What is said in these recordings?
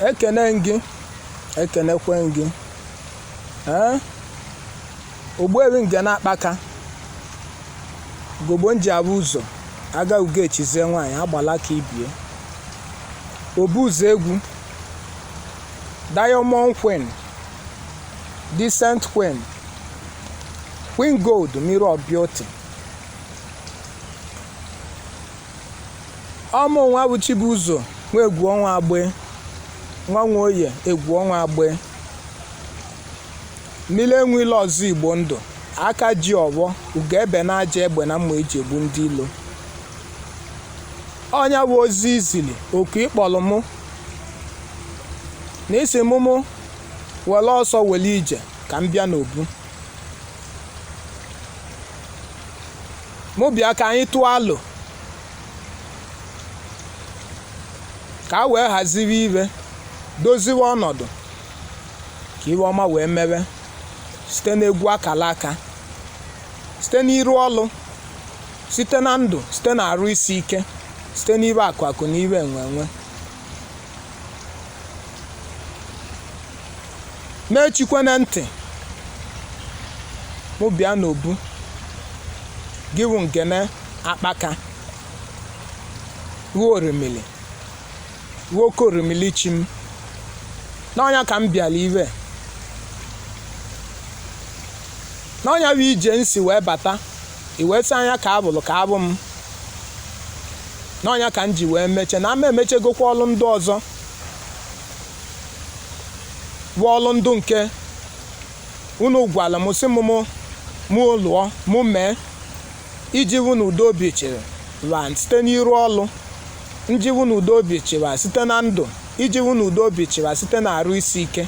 ekene gị ekenekwe gị ee ogbuefi Ngene Akpaka gogbo nji abụ ụzọ aga ugo echizie nwaanyị agbala ka ibie obu ụzọ egwu diamond queen decent queen queen gold mirror of beauty Ọmụ nwa bụ Chibuzo nwa Egwuọnwa Agbe, nwa Nwoye Egwuọnwa Agbe, mmili enwe ilo ọzọ Igbo ndụ, aka ji ọfọ, ugo ebe na aja egbe na mma eji egbu ndị ilo. Ọ nya bụ ozi i zili oku ị kpọlụ mụ na ị sị mụ mụ wele ọsọ wele ije ka m bịa n'obu. mụ bịa ka anyị tụọ alo ka a wee haziwe ihe doziwe ọnọdụ ka ihe ọma wee mewe site n'egwu akala aka site n'iru ọlụ site na ndụ site na arụ isi ike site n'ihe akụ akụ na ihe enwe enwe m echikwene ntị mụ bịa n'obu gị wụ Ngene Akpaka ruo orimili ruo oke orimili chi m na ọ nya ka m bịalụ ihe na ọ nya bụ ije m si wee bata i wee sị anya ka abụlụ ka abụ m na ọ nya ka m ji wee meche na ama emechegokwa ọlụ ndị ọzọ bụ ọlụ ndụ nke unu gwalụ m sị m mụ mụ lụọ mụ mee iji hụ na udo obi chịwa site n'iru ọlụ nji hụ na udo obi chịwa site na ndụ iji hụ na udo obi chịwa site na arụ isi ike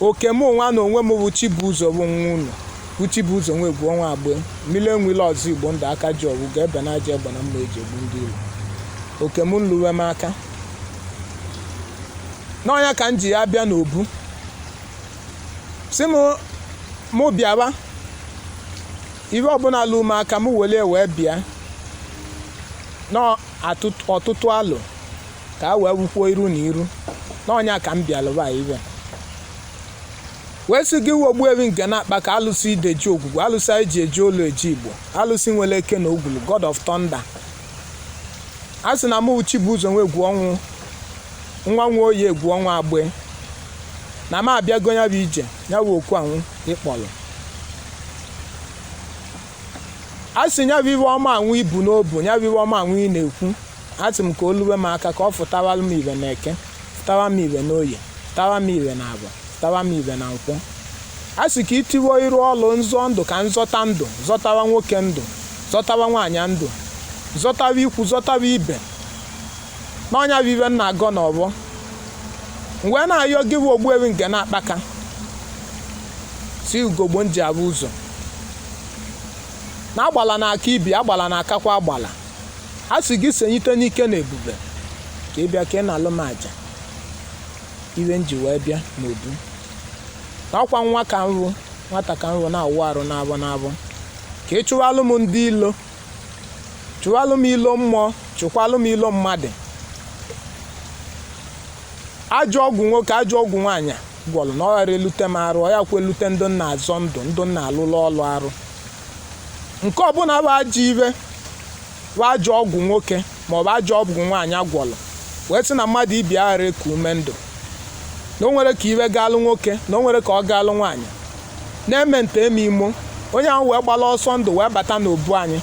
oke mụ nwa na onwe m bụ Chibuzo bụ nwa unu bụ Chibuzo nwa egwu ọnwa agbe mmili enwe ilo ọzọ igbo ndụ aka ji ọfọ ugo ebe na aja egbe na mma eji egbu ndị ilo oke m nluwe m aka na ọ nya ka m ji ya bịa n'obu sị m mụ bịawa ihe ọbụla lu m aka m were wee bịa n'ọtụtụ alo ka a wee hụkwuo iru na iru na ọ nya ka m bịalụba ihe wee sị gị wụ ogbuefi Ngene Akpaka alụsị ide ji ogwugwu alụsị anyị ji eje olu eje igbo alụsị nwere eke na ogwulu god of thunder a sị na mụ wụ Chibuzo nwa egwu ọnwa nwa Nwoye egwu ọnwa agbe na m abịago nya bụ ije nya bụ oku anwụ ị kpọlụ a sị nya bụ ihe ọma anwụ i bu n'obi nya bụ ihe ọma anwụ ị na-ekwu Asị m ka o luwe m aka ka ọ fụtawara m ihe na eke, fụtawa m ihe n'oye, fụtawa m ihe na afọ, fụtawa m ihe na nkwọ. A sị ka i tiwo iru ọlụ nzọ ndụ ka m zọta ndụ, zọtawa nwoke ndụ, zọtawa nwaanyị ndụ, zọtawa ikwu, zọtawa ibe. Na ọ nya bụ ihe m na-agọ n'ọfọ. M wee na-ayọ gị bụ Ogbuefi nke na-akpaka si ugogbo m ji ahụ ụzọ na agbala na-aka ibe agbala na-akakwa agbala a sị gị senyite n'ike na ebube ka ị bịa ka ị nalụ m aja ihe m ji wee bịa n'obu ọkwa nwa ka m bụ nwata ka m bụ na-awụ arụ n'afọ n'afọ ka ị chụwalụ m ndị ilo chụwalụ m ilo mmụọ chụkwalụ m ilo mmadụ ajọ ọgwụ nwoke ajọ ọgwụ nwaanyị gwọlụ na ọ ghara elute m arụ ọ ya kwa elute ndị m na-azọ ndụ ndị m na-alụlụ ọlụ arụ nke ọbụla bụ ajọ ihe bụ ajọ ọgwụ nwoke maọbụ ajọ ọgwụ nwaanyị agwọlụ wee sị na mmadụ ibe aghara eku ume ndụ na o nwere ka ihe gaalụ nwoke na o nwere ka ọ gaalụ nwaanyị na-eme nta eme imo onye ahụ wee gbala ọsọ ndụ wee bata n'obu anyị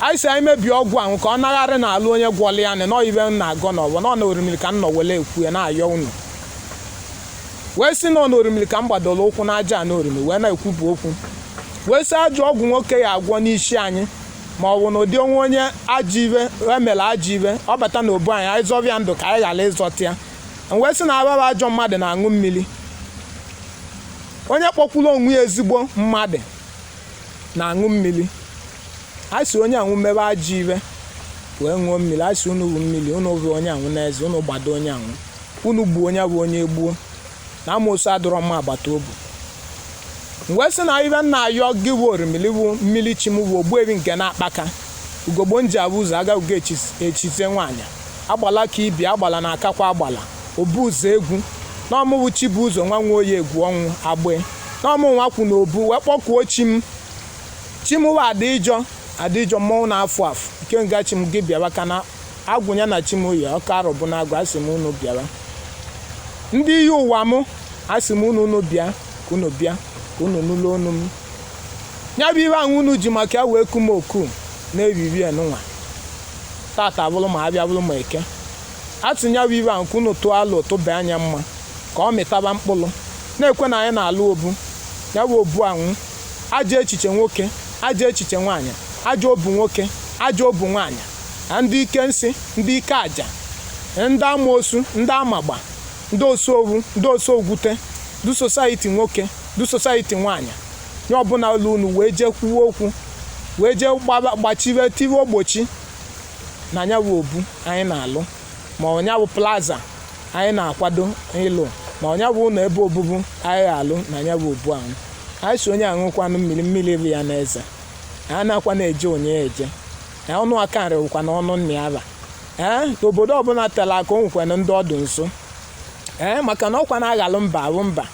anyị sị anyị mebie ọgwụ ahụ ka ọ nagharị naalụ onye gwọlụ ya nị na ọ ihe m na-agọ n'ọfọ na ọ na orimiri ka m nọ wele ekwu ya na-ayọ unu wee sị na ọ na orimiri ka m gbadoro ụkwụ n'aja ana orimiri wee na-ekwupụ okwu wee sị ajọ ọgwụ nwoke ya agwọ n'isi anyị ma ọ bụ na ụdị o nwee onye ajọ ihe emere ajọ ihe ọ bata na obu anyị anyị zọba ya ndụ ka anyị ghara ịzọta ya m wee sị na ababa ajọ mmadụ na-aṅụ mmiri onye kpọkwuru onwe ya ezigbo mmadụ na-aṅụ mmiri a sị onye anwụ mebe ajọ ihe wee ṅụọ mmiri a sị unu bụ mmiri unu bụ onye anwụ n'eze unu gbado onye anwụ unu gbuo onye bụ onye gbuo na amoosu adịrọ mma agbata obi m wee sị na ihe m na-ayọ gị bụ orimili bụ mmiri chi m bụ ogbuebi nke na-akpaka ugogbo m ji ahụ ụzọ aga ugo echizie nwaanyị agbala ka ibe agbala na-akakwa agbala obu ụzọ egwu n'ọmụ bụ chi bu ụzọ nwa nwa oyi egwu ọnwụ agbe n'ọmụ nwa kwụ na obu wee kpọkuo chi m chi m bụ adịjọ adịjọ mmọnwụ na-afụ afụ ikenga chi m gị bịawa ka na agwụ ya na chi m yi ọka Arọbụnagụ asị m unu bịawa ndị iyi ụwa m asị m unu unu bịa ka unu bịa ka unu nụlụ onu m ya bụ ihe ahụ unu ji maka ya wee ku m oku na-eriri enụnwa tata bụrụ ma abịa bụrụ ma eke atụ nya bụ ihe ahụ ka unu tụọ alụ tụba anya mma ka ọ mịtaba mkpụrụ na-ekwe na anyị na-alụ obu ya bụ obu anwụ ajọ echiche nwoke ajọ echiche nwaanyị ajọ obu nwoke ajọ obu nwaanyị na ndị ike nsị ndị ike aja na ndị amoosu ndị amagba ndị osowu ndị osogwute ndị sosaiti nwoke ndị sosaiti nwaanyị onye ọbụla ụlọ unu wee jee kwuo okwu wee jee gbaba- gbachiwe tiwe ogbochi na nya bụ obu anyị na-alụ ma ọnya bụ plaza anyị na-akwado ịlụ ma ọnya bụ ụlọ ebe obubu anyị gha alụ na nya bụ obu ahụ anyị sị onye aṅụkwanụ mmiri mmiri fie ya n'eze a na-akwa na-eje onye eje ee, ọnụ aka nrị wụkwa na ọnụ nna ya ba ee obodo ọbụla tela aka o nwekwana ndị ọ dụ nso ee maka na ọkwa na-aghalụ mba abụ mba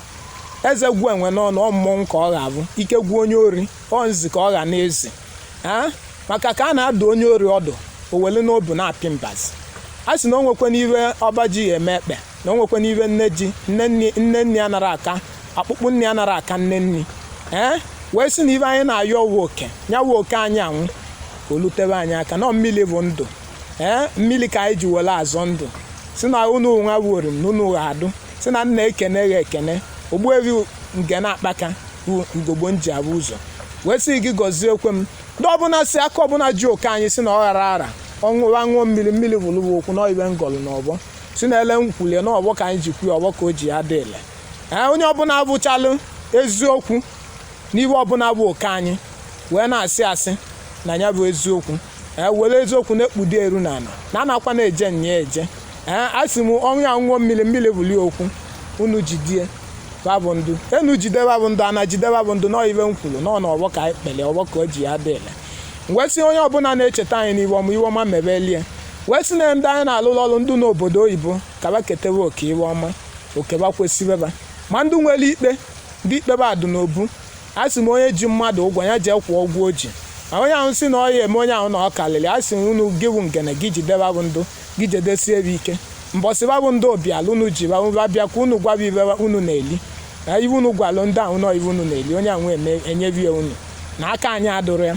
eze gwuo enwe n'ọnụ ọ mmọnwụ ka ọ ga-abụ ike gwuo onye ori ọ nzi ka ọ ga na-ezi ee maka ka a na-adụ onye ori ọdụ o welu n'obu na-apị mbazi a sị na o nwekwana iwe ọba ji ya eme ekpe na o nwekwana iwe nne ji nne nni nne nni anara aka akpụkpụ nni anara aka nne nni ee wee sị na iwe anyị na-ayọ uwe oke ya uwe oke anyị anwụ ka o lutebe anyị aka na mmiri bụ ndụ ee mmiri ka anyị ji were azọ ndụ sị na unu nwa wuru m na unu gha adụ sị na nna ekene gha ekene ogbuevi nge na-akpaka bụ ugogbo nji abụ ụzọ wee sị gị gọzie ekwe m ndị ọbụla si aka ọbụla ji oke anyị sị na ọ gha ara ara ọṅụwa ṅụọ mmiri mmiri bụlụ okwu na iwe m gọlụ na ọbọ sị na ele m kwulie na ọbọ ka anyị ji kwuo ọbọ ka o ji adị ile ee onye ọbụla abụchalụ eziokwu n'iwe ọbụla bụ oke anyị wee na-asị asị na ya bụ eziokwu ee were eziokwu na-ekpudo eru na ala na anakwa na-eje nya eje ee a sị m ọnwụ ya ṅụọ mmiri mmiri bụli okwu unu jide ba bụ ndụ enu jide ba bụ ndụ ana jide ba bụ ndụ na ọ iwe m kwuru na ọ na ọbọ ka anyị kpere ọbọ ka o ji adị ile wee sị onye ọbụla na-echeta anyị n'iwe ọma iwe ọma mebelie wee sị na ndị anyị na-alụrụ ọrụ ndị n'obodo oyibo ka ba ketewe oke iwe ọma oke ba kwesịrị ba ma ndị nwere ikpe ndị ikpe ba dụ n'obu a sị m onye ji mmadụ ụgwọ ya jee kwụọ ụgwọ o ji ma onye ahụ sị na ọ ya eme onye ahụ na ọ karịrị a sị unu gị bụ ngene gị jide ba bụ ndụ gị jedesie ebe ike mbọsị ba bụ ndị obiala unu ji ba bịa ka unu gwa ba iwe unu na-eli na iwe unu gwalụ ndị ahụ na iwe unu na-eli onye ahụ eme enyebi ya unu na aka anyị adụrụ ya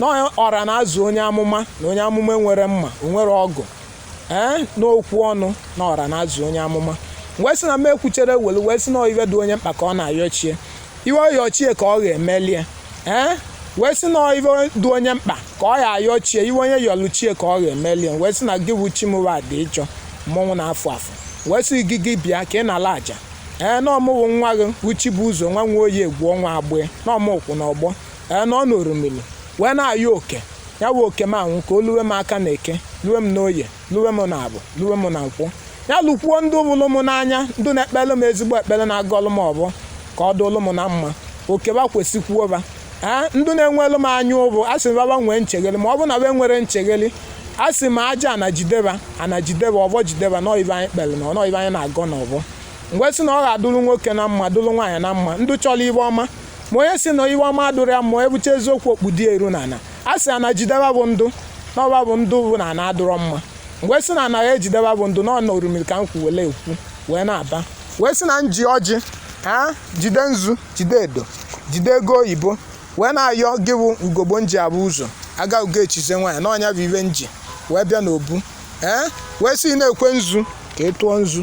na ọra na-azụ onye amụma na onye amụma enwerọ mma o nwerọ ọgụ ee n'okwu ọnụ na ọra na-azụ onye amụma wee sị na m ekwuchere welu wee sị na iwe dị onye mkpa ka ọ na-ayọ chi e iwe ọ yọ chi e ka ọ ga-emelie ee wee sị na iwe dị onye mkpa ka ọ ga-ayọ chi e iwe onye yọlụ chi e ka ọ ga-emelie wee sị na gị bụ chimuwa dị ịchọ mmọnwụ na-afụ afụ wee sị gị gị bịa ka ị nala aja ee na ọ mụwa nwa gị bụ Chibuzọ nwa nwa oyi egwu ọnwa agbee na ọ mụ kwụ na ọbọ ee na ọ na orumili wee na-ayọ oke ya wụ oke m ahụ ka o luwe m aka na eke luwe m n'oye luwe m na abọ luwe m na nkwọ ya lụkwuo ndị bụlụ m n'anya ndị na-ekpere m ezigbo ekpere na-agọlụ m ọbọ ka ọ dụlụ m na mma oke ba kwesịkwuo ba ee ndị na-enwelụ m anya ụbụ a sị m ba ba nwee nchegheli ma ọ bụ na ba enwerọ nchegheli a sị m aja ana jide ba ana jide ba ọbọ jide ba na ọ ibe anyị kpere na ọnọ ibe anyị na-agọ na ọbọ m wee sị na ọ ga-adụrụ nwoke na mma dụrụ nwaanyị na mma ndị chọrọ ibe ọma ma onye si na ibe ọma adụrọ ya mma ebucha eziokwu o kpudo iru na ana a sị ana jide ba bụ ndụ na ọ ba bụ ndụ bụ na ana adụrọ mma wee sị na ana ga-ejide ba bụ ndụ na ọ na orumiri ka m kwu wele ekwu wee na-aba wee si na m ji ọjị ha jide nzu jide edo jide ego oyibo wee na-ayọ gị bụ ugogbe m ji abụ ụzọ aga ugo echize nwaanyị na ọ nya bụ ibe m ji wee bịa n'obu ee wee si nekwe nzu ka ị tụọ nzu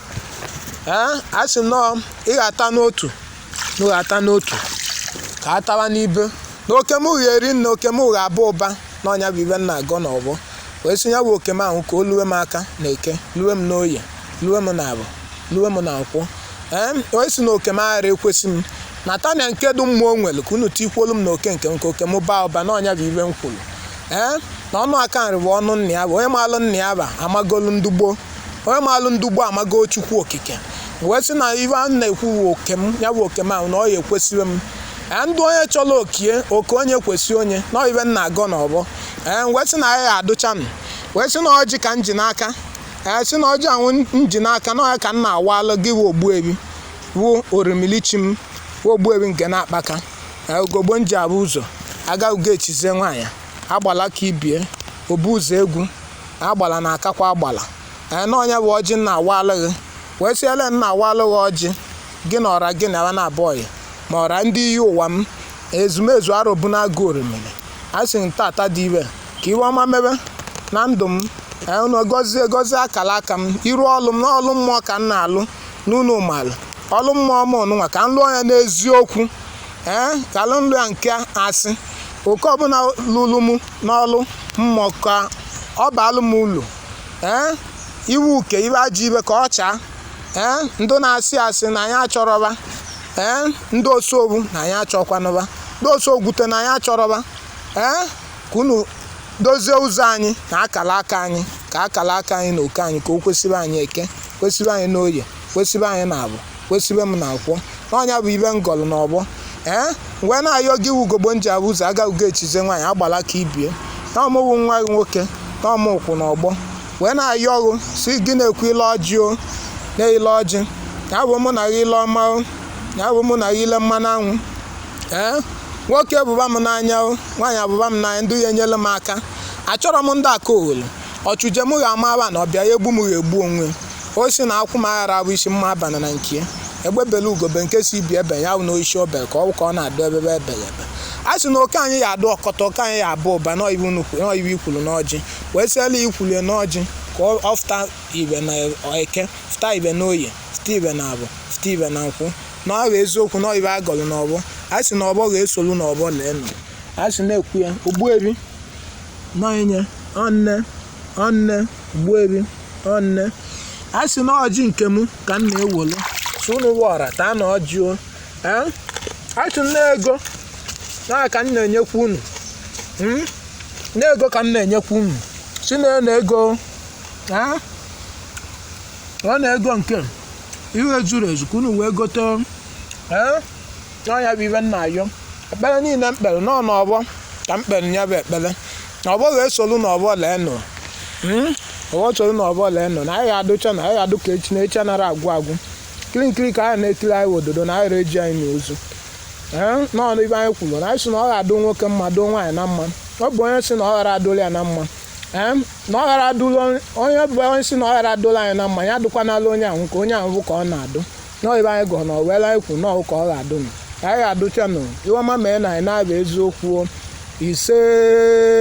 ee a sị na ọ ị ga-ata n'otu m ga-ata n'otu ka a tawa n'ibe na oke m ga-eri nne oke m ga-aba ụba na ọ nya bụ ibe m na-agọ na ọbọ wee sị ya bụ oke m ahụ ka o luwe m aka na eke luwe m n'oye luwe m na abọ luwe m na nkwọ ee wee sị na oke m aghara ekwesị m na tania nke dị mma o nwere ka unu tikwolu m na oke nke m ka oke m baa ụba na ọ nya bụ ibe m kwuru ee na ọnụ aka nri bụ ọnụ nna ya bụ onye maalụ nna ya bụ amagolu ndị gboo onye maalụ ndị gboo amago chukwu okike wee sị na ife a na-ekwu wụ oke m ya bụ oke m ahụ na ọ ya ekwesịrị m ee ndị onye chọrọ okie oke onye kwesị onye na ife m na-agọ n'ọbọ ee wee sị na ya ya adụcha m wee sị na ọjị ka m ji n'aka ee sị na ọjị ahụ m ji n'aka na ọ ya ka m na-awalụ gị wụ ogbuebi wụ orimili chi m wụ ogbuebi nke n'akpaka ee ugogbe m ji abụ ụzọ aga ugo echizie nwaanyị agbala ka ibie obu ụzọ egwu agbala na akakwa agbala ee na ọ nya bụ ọjị m na-awalụ gị wee sị ele m na-awalụ gị ọjị gị na ọra gị na ya na-abụ ọyị ma ọra ndị iyi ụwa m ezumezu arọbụ na agụ orimiri a sị m tata dị ibe ka ibe ọma mebe na ndụ m ee unu gọzie gọzie akara aka m iru ọlụ m na ọlụ mmụọ ka m na-alụ n'ụlọ ụmụala ọlụ mmụọ m ọnụnwa ka m lụọ ya n'eziokwu ee ka alụ nlụ ya nke asị oke ọbụla lụrụ m n'ọlụ mmụọ ka ọ baalụ m ulu ee ibe uke ibe ajọ ibe ka ọ chaa ee ndị na-asị asị na anyị achọrọ ba ee ndị osobu na anyị achọkwanụ ba ndị osogwute na anyị achọrọ ba ee ka unu dozie ụzọ anyị na akala aka anyị ka akala aka anyị na oke anyị ka o kwesịbe anyị eke kwesịbe anyị n'oye kwesịbe anyị na abọ kwe sị ive m na-ekwu na ọ ya bụ ive m gọlụ na ọvọ wee na-ayọ gị wugogbo m ji abụ ụzọ agaghị echize nwaanyị agbala ka ibie na ọ mụwa nwa gị nwoke na ọ mụ kwụ na ọvọ wee na-ayọ ọgụ si gị na-ekwu ile ọjị o na ile ọjị ya bụ mụ na gị ile ọma o ya bụ mụ na gị ile mmanụ anwụ ee nwoke vụba m n'anya o nwaanyị avụba m n'anya ndị ya enyelụ m aka achọrọ m ndị aka owere ọ chụje m gha amara na ọ bịa ya egbu m gha egbu onwe o si na akwụ m aghara abụ isi mma abana na nke ya egbe bele ugo be nke si ibe ya ebena oisi obe ka ọ ka ọ na-adụ ebebe ebele ebe a sị na oke anyị ya adụ ọkọta oke anyị ya abụ ụba n'ive e kwulu n'ọjị wee sị na e kwulu ya n'ọjị ka ọ fụta ive na eke fụta ive na oye fụta ive na avọ fụta ive na nkwọ na ọ bụ eziokwu na ive a gọlụ n'ọvọ a sị na ọvọ ga-esolu n'ọvọ lee nụ a sị na-ekwu ya ogbuevi Nọinye, ọnne, ọnne, Ogbuevi, ọnne. A sị na ọjị nke m ka m na-ewolu si unu wọra taa na ọjị o ee a sị na ego a ka m na-enyekwa unu Mm? na ego ka m na-enyekwa unu si na na ego ee ọ na ego nke ihe zuru ezu ka unu wee gote ee na ọ ya bụ ive m na-ayọ ekpere niile m kpere nọ n'ọvọ ka m kpere ya bụ ekpere na ọvọ ga-esolu n'ọvọ lee nụ hmm? ọvọ solu n'ọvọ lee nụ na anyị adụcha na anyị adụ ka echi na echi anara agwụ agwụ nkiri nkiri ka a ya na-ekiri anyị ododo na anara eji anyị eni ozu hmm? n'ọnụ ive anyị kwuru na anyị si na ọ ga-adụ nwoke mma dụ nwaanyị na mma ọ bụ onye si na ọ ghara adụrụ ya na mma hmm? na ọ ghara adụrụ onye bụ onye si na ọ ghara adụrụ anyị na mma ya adụkwanala onye ahụ ka onye ahụ bụ ka ọ na-adụ nọọ ive anyị gọọ na ive anyị kwu nọọ ka ọ ga-adụ nụ ka anyị ga-adụchanụ ive ọma mee na anyị na-abịa eziokwu ise